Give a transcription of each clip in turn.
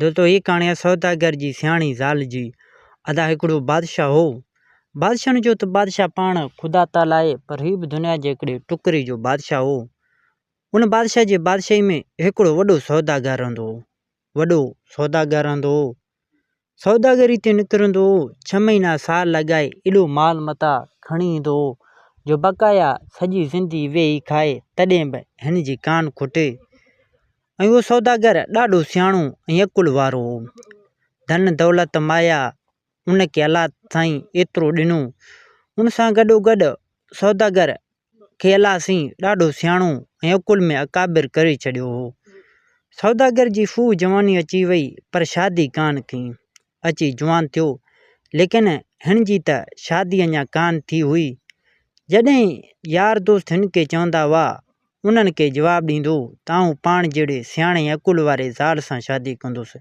دوستو هيء ڪهاڻي آهي سوداگر جي سياڻي زال جي. ادا هڪڙو بادشاهه هو. بادشاهه نه چئو ته بادشاهه پاڻ خدا تعالي آهي پر هي به دنيا جي هڪڙي ٽڪري جو بادشاهه هو. ان بادشاهه جي بادشاهي ۾ هڪڙو وڏو سوداگر رهندو هو. وڏو سوداگر رهندو هو. سوداگري تي نڪرندو هو، ڇهه مهينا سال لڳائي ايڏو مال متاع کڻي ايندو هو، جو بقايا سڄي زندي ويهي کائي تڏهن به هن جي ڪانه کوٽي. ۽ اهو سوداگر ڏاڍو سياڻو ۽ عقل وارو هو. ڌن دولت مايا ان کي الله سائين ايترو ڏنو، ان سان گڏوگڏ سوداگر کي الله سائين ڏاڍو سياڻو ۽ عقل ۾ اڪابر ڪري ڇڏيو هو. سوداگر جي خوب جواني اچي وئي پر شادي ڪانه ٿي. اچي جوان ٿيو ليڪن هن جي ته شادي اڃا ڪانه ٿي هئي. جڏهن يار دوست هن کي چوندا هئا انهن کي جواب ڏيندو ته آئون پاڻ جهڙي سياڻي ۽ عقل واري زال سان شادي ڪندس.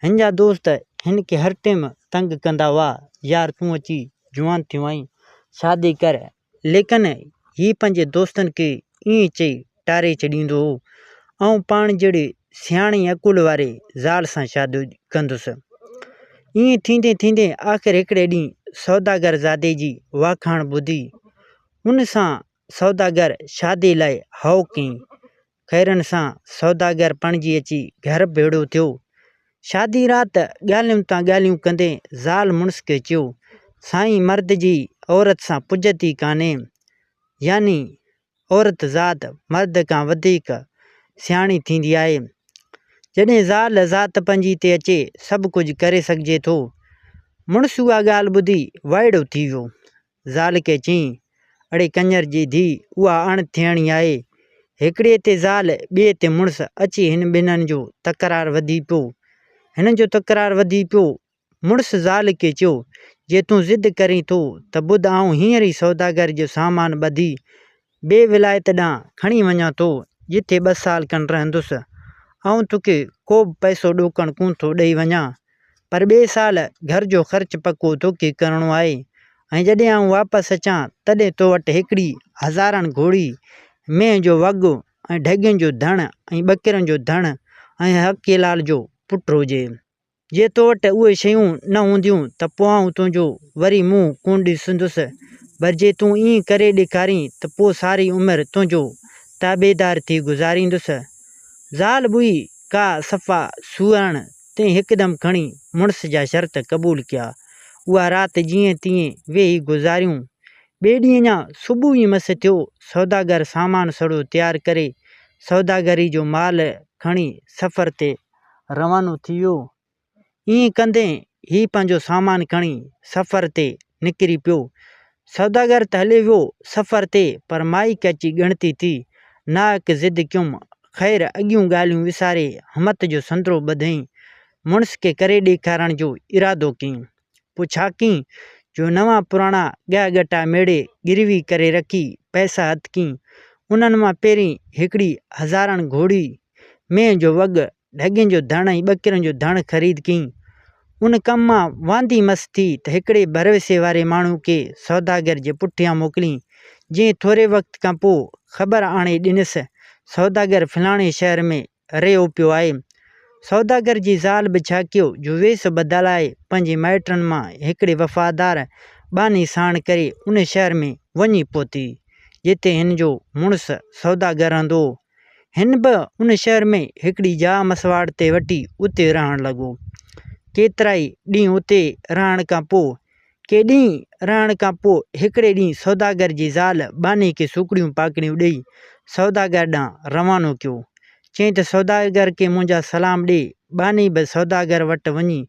هن جا دوست هن کي هر ٽيم تنگ ڪندا هئا، يار تون اچي جوان ٿيو آهين، شادي ڪر. ليڪن هي پنهنجي دوستن کي ائين چئي ٽاري ڇڏيندو هو، آئون پاڻ جهڙي سياڻي ۽ عقل واري زال سان شادي ڪندس. ائين ٿيندي ٿيندي آخر هڪڙي ڏينهن سوداگر زادي جي واکاڻ ٻڌي ان سان سوداگر شاديء لاء هائو ڪيائين. خيرن سان سوداگر پڻجي اچي گهر ڀيڙو ٿيو. شاديء رات ڳالهيون تان ڳالهيون ڪندي زال مڙس کي چيو، سائين مرد جي عورت سان پڄت ئي ڪانهي. يعني عورت ذات مرد کان وڌيڪ سياڻي ٿيندي آهي. جڏهن زال ذات پنهنجي تي اچي سڀ ڪجهه ڪري سگهجي ٿو. مڙس اها ڳالهه ٻڌي وائڙو ٿي ويو. زال کي چيائين، اڙي ڪڃر جي ڌيء، اها اڻ ٿيڻي آهي. هڪڙي تي زال، ٻئي تي مڙس، اچي هن ٻنهن جو تڪرار وڌي پيو. هنن جو تڪرار وڌي پيو. مڙس زال کي چيو، جي تون ضد ڪرين ٿو ته ٻڌ آئون هينئر ئي سوداگر جو سامان ٻڌي ٻي ولايت ڏانهن کڻي وڃان ٿو، جتي ٻه سال کن رهندس. آئون توکي ڪوبه پئسو ڏوڪڻ ڪونه ٿو ڏئي وڃان، پر ٻئي سال گهر جو خرچ پڪو توکي ڪرڻو آهي ۽ جڏهن آئون واپس اچان، تڏهن تو وٽ هڪڙي هزارڻ گهوڙي، مينهن جو وڳو ۽ ڍڳين جو ڌڻ ۽ ٻڪرين جو ڌڻ ۽ حقيلال جو پٽ هجي. جي تو وٽ اهي شيون نه هونديون ته پوء آئون تنهنجو وري منهن ڪونه ڏسندس، پر جي تون ائين ڪري ڏيکارين ته پوء ساري عمر تنهنجو تابعدار ٿي گذاريندس. زال ٻئي ڪا صفا سوئرڻ تي هڪدم کڻي مڙس جا شرط قبول ڪيا. اها رات جيئن تيئن ويهي گذاريون. ٻئي ڏينهن اڃا صبح ئي مس ٿيو، سوداگر سامان سڙو تيار ڪري سوداگري جو مال کڻي سفر تي روانو ٿي ويو. ائين ڪندي هي پنهنجو سامان کڻي سفر تي نڪري پيو. سوداگر ته هليو ويو سفر تي پر مائڪ اچي ڳڻتي ٿي. ناهڪ ضد ڪيم. خير اڳيون ڳالهيون وساري همت جو سندرو ٻڌئين. مڙس کي ڪري ڏيکارڻ جو ارادو ڪيم. پڇاڪين جو نوان پراڻا ڳهه ڳٽا ميڙي گروي ڪري رکي پئسا هٿڪين انهن مان پهرين هڪڙي هزارڻ گهوڙي، مينهن جو وڳ، ڍڳين جو ڌڻ ۽ ٻڪرين جو ڌڻ خريد ڪين. ان ڪم مان واندي مس ٿي ته هڪڙي ڀروسي واري ماڻهو کي سوداگر جي پٺيان موڪلين، جنهن ٿوري وقت کان پوء خبر آڻي ڏنس، سوداگر فلاڻي شهر ۾ رهيو پيو آهي. سوداگر جي زال به ڇاڪيو جو ويس بدلائي پنهنجي مائٽن مان هڪڙي وفادار ٻانهي ساڻ ڪري ان شهر ۾ وڃي پهتي، جتي هن جو مڙس سوداگر رهندو هو. هن به ان شهر ۾ هڪڙي جاء مسواڙ تي وٺي اتي رهڻ لڳو. ڪيترائي ڏينهن اتي رهڻ کان پوء ڪي ڏينهن رهڻ کان پوء هڪڙي ڏينهن سوداگر جي زال ٻانهي کي سوکڙيون پاکڙيون ڏيئي سوداگر ڏانهن روانو ڪيو. چيائين ته سوداگر کي منهنجا سلام ڏي. ٻانهي به سوداگر وٽ وڃي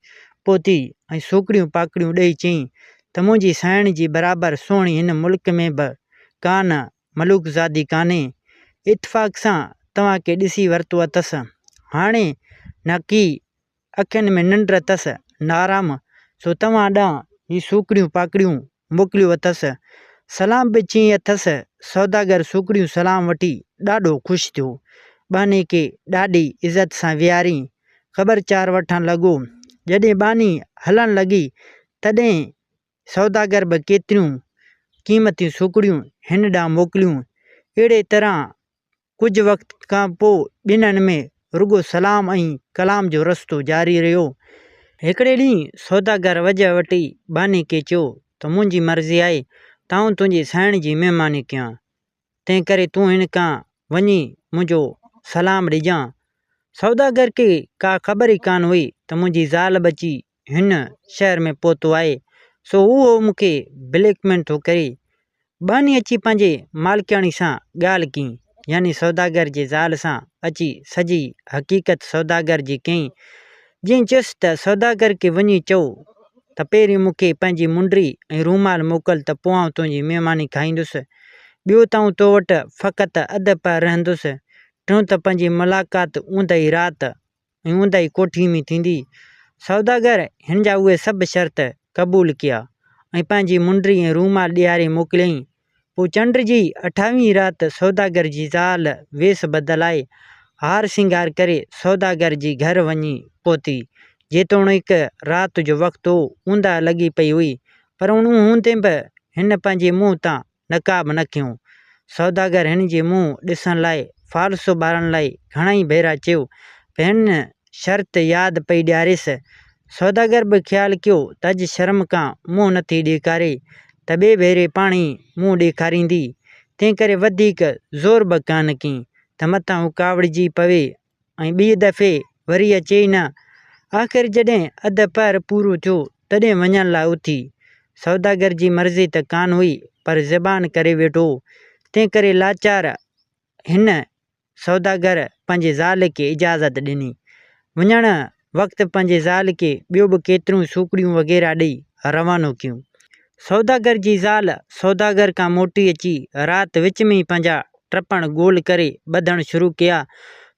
پهتي ۽ سوکڙيون پاکڙيون ڏيئي چيائين ته منهنجي سانئڻ جي برابر سهڻي هن ملڪ ۾ به ڪا نه ملوڪزادي ڪانهي. اتفاق سان توهان کي ڏسي ورتو اٿس. هاڻي نڪي اکين ۾ ننڊ اٿس نارام سو توهان ڏانهن هي سوکڙيون پاکڙيون موڪليون اٿس. سلام به چيائين اٿس. سوداگر سوکڙيون سلام وٺي ڏاڍو خوش ٿيو. ٻانهي کي ڏاڍي عزت سان ويهارين خبر چار وٺڻ لڳو. جڏهن ٻانهي هلڻ لڳي تڏهن سوداگر به ڪيتريون قيمتيون سوکڙيون هن ڏانهن موڪليون. اهڙي طرح ڪجهه وقت کان پوء ٻنهن ۾ رڳو سلام ۽ ڪلام جو رستو جاري رهيو. هڪڙي ڏينهن سوداگر وجهه وٽي ٻانهي کي چيو ته منهنجي مرضي آهي ته آئون تنهنجي سائڻ جي مهماني ڪيان، تنهنڪري تون هن کان وڃي منهنجو سلام ڏجان. سوداگر کي ڪا خبر ئي ڪانه هئي ته منهنجي زال ٻچي هن شهر ۾ پهتو آهي سو اهو مون کي بليڪ ميل ٿو ڪري ٻانهي اچي پنهنجي مالڪياڻي سان ڳالهه ڪيائين يعني سوداگر جي زال سان اچي سڄي حقيقت سوداگر جي ڪيائين جنهن چيس ته سوداگر کي وڃي چئو ته پهرين مون کي پنهنجي منڊي ۽ رومال موڪل ته پوء آئون تنهنجي مهماني کائيندس ٻيو ته آئون تو وٽ فقط اڌ پهر رهندس ٽيون ته پنهنجي ملاقات اوندهي رات ۽ اونداهي ڪوٺيء ۾ ٿيندي. سوداگر هن جا اهي سڀ شرط قبول ڪيا، ۽ پنهنجي منڊري ۽ رومال ڏياري موڪليائين. پوء چنڊ جي اٺاويهين رات سوداگر جي زال ويس بدلائي، هار سينگار ڪري سوداگر جي گهر وڃي پهتي. جيتوڻيڪ رات جو وقت هو، اونداهه لڳي پئي هئي، پر ان هوندي به هن پنهنجي منهن تان نقاب نکيون. سوداگر هن جي منهن ڏسڻ لاء فالسو ٻارڻ لاء گهڻائي ڀيرا چيو، پنهن شرط ياد پئي ڏياريس. سوداگر به خيال ڪيو ته اڄ شرم کان منهن نٿي ڏيکاري ته ٻئي ڀيري پاڻ ئي منهن ڏيکاريندي، تنهنڪري وڌيڪ زور به ڪانه ڪيائين ته متان هو ڪاوڙجي پوي ۽ ٻيء دفعي وري اچي ئي نه. آخر جڏهن اڌ پهر پورو ٿيو، تڏهن وڃڻ لاء اٿي. سوداگر جي مرضي ته ڪانه هئي، پر زبان ڪري ويٺو هو، تنهنڪري لاچار هن سوداگر پنهنجي زال کي اجازت ڏني. وڃڻ وقت پنهنجي زال کي ٻيو به ڪيتريون سوکڙيون وغيره ڏئي روانو ڪيون. سوداگر جي زال سوداگر کان موٽي اچي رات وچ ۾ ئي پنهنجا ٽپڻ گول ڪري ٻڌڻ شروع ڪيا.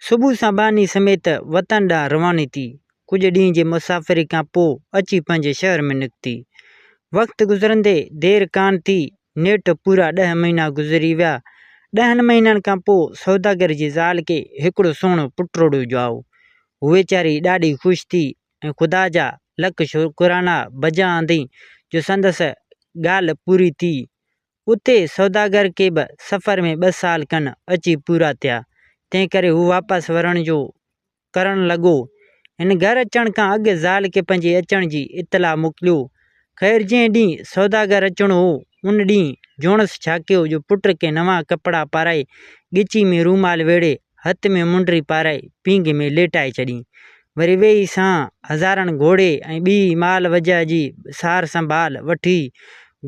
صبح سان ٻانهي سميت وطن ڏانهن رواني ٿي. ڪجهه ڏينهن جي مسافري کان پوء اچي پنهنجي شهر ۾ نڪتي. وقت گذرندي دير ڪانه ٿي، نيٺ پورا ڏهه مهينا گذري ويا. ڏهن مهينن کان پوء سوداگر جي زال کي هڪڙو سهڻو پٽڙو ڄائو. هوء ويچاري ڏاڍي خوش ٿي ۽ خدا جا لک شڪرانا بجا آندي جو سندس ڳالهه پوري ٿي. اتي سوداگر کي به سفر ۾ ٻه سال کن اچي پورا ٿيا، تنهنڪري هو واپس ورڻ جو ڪرڻ لڳو. هن گهر اچڻ کان اڳ زال کي پنهنجي اچڻ جي اطلاع موڪليو. خير جنهن ڏينهن سوداگر اچڻو هو، ان ڏينهن جوڻس ڇاڪيو جو پٽ کي نوان ڪپڙا پارائي، ڳچي ۾ رومال ويڙهي هٿ ۾ منڊري پارائي پينگهه ۾ ليٽائي ڇڏين. وري ويهي سان هزارڻ گهوڙي ۽ ٻي مال وجهه جي سار سنڀال وٺي،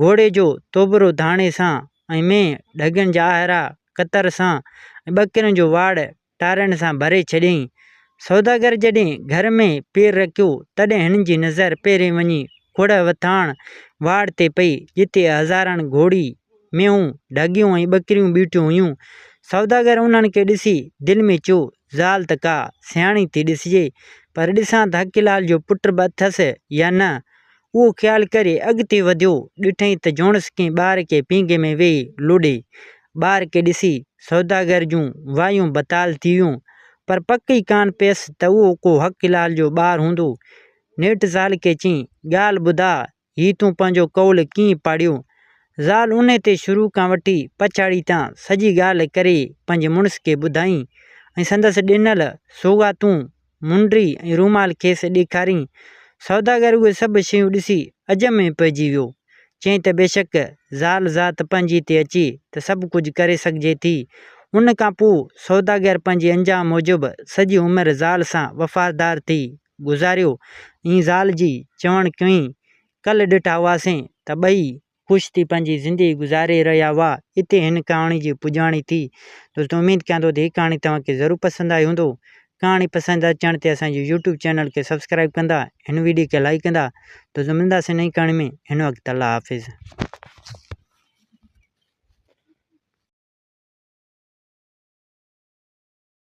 گهوڙي جو توبرو ڌاڻي سان ۽ مينهن ڍڳين جا آهرا ڪتر سان ۽ ٻڪرين جو واڙ ٽارين سان ڀري ڇڏيائين. سوداگر جڏهن گهر ۾ پير رکيو، تڏهن هن جي نظر پهرين وڃي کوڙهه وٿاڻ واڙ تي پئي، جتي هزارڻ گهوڙي، مينهون، ڍڳيون ۽ ٻڪريون بيٺيون هيون. سوداگر انهن کي ڏسي دل ۾ چيو، زال ته ڪا سياڻي ٿي ڏسجي، پر ڏسان ته حقي لال جو پٽ به اٿس يا نه؟ اهو خيال ڪري اڳتي وڌيو، ڏٺائين ته جوڻس ڪنهن ٻار کي پينگهي ۾ ويهي لوڏي. ٻار کي ڏسي سوداگر جون وايون بتال ٿي ويون، پر پڪ ئي ڪانه پيس ته اهو ڪو حقي لال جو ٻار هوندو. نيٺ زال کي چيائين، ڳالهه ٻڌاء، هي تون پنهنجو قول ڪيئن پاڙيو؟ زال انهي تي شروع کان وٺي پڇاڙي تان سڄي ڳالهه ڪري پنهنجي مڙس کي ٻڌائين ۽ سندس ڏنل سوغاتون، منڊي ۽ رومال کيس ڏيکارين. سوداگر اهي سڀ شيون ڏسي عجب ۾ پئجي ويو. چيائين ته بيشڪ زال ذات پنهنجي تي اچي ته سڀ ڪجهه ڪري سگهجي ٿي. ان کان پوء سوداگر پنهنجي انجام موجب سڄي عمر زال سان وفادار ٿي گذاريو. اين زال جي چوڻ ڪيئن ڪل ڏٺا هئاسين ته ٻئي خوش ٿي پنهنجي زندگي گذاري رهيا هئا. اتي هن ڪهاڻي جي پڄاڻي ٿي. دوستو اميد ڪيان ٿو ته هي ڪهاڻي توهان کي ضرور پسند آئي هوندو. ڪهاڻي پسند اچڻ تي اسان جي يوٽيوب چينل کي سبسڪرائيب ڪندا هن ويڊيو کي لائيڪ ڪندا. دوستو ملنداسين نئين ڪهاڻي ۾ هن وقت الله حافظ.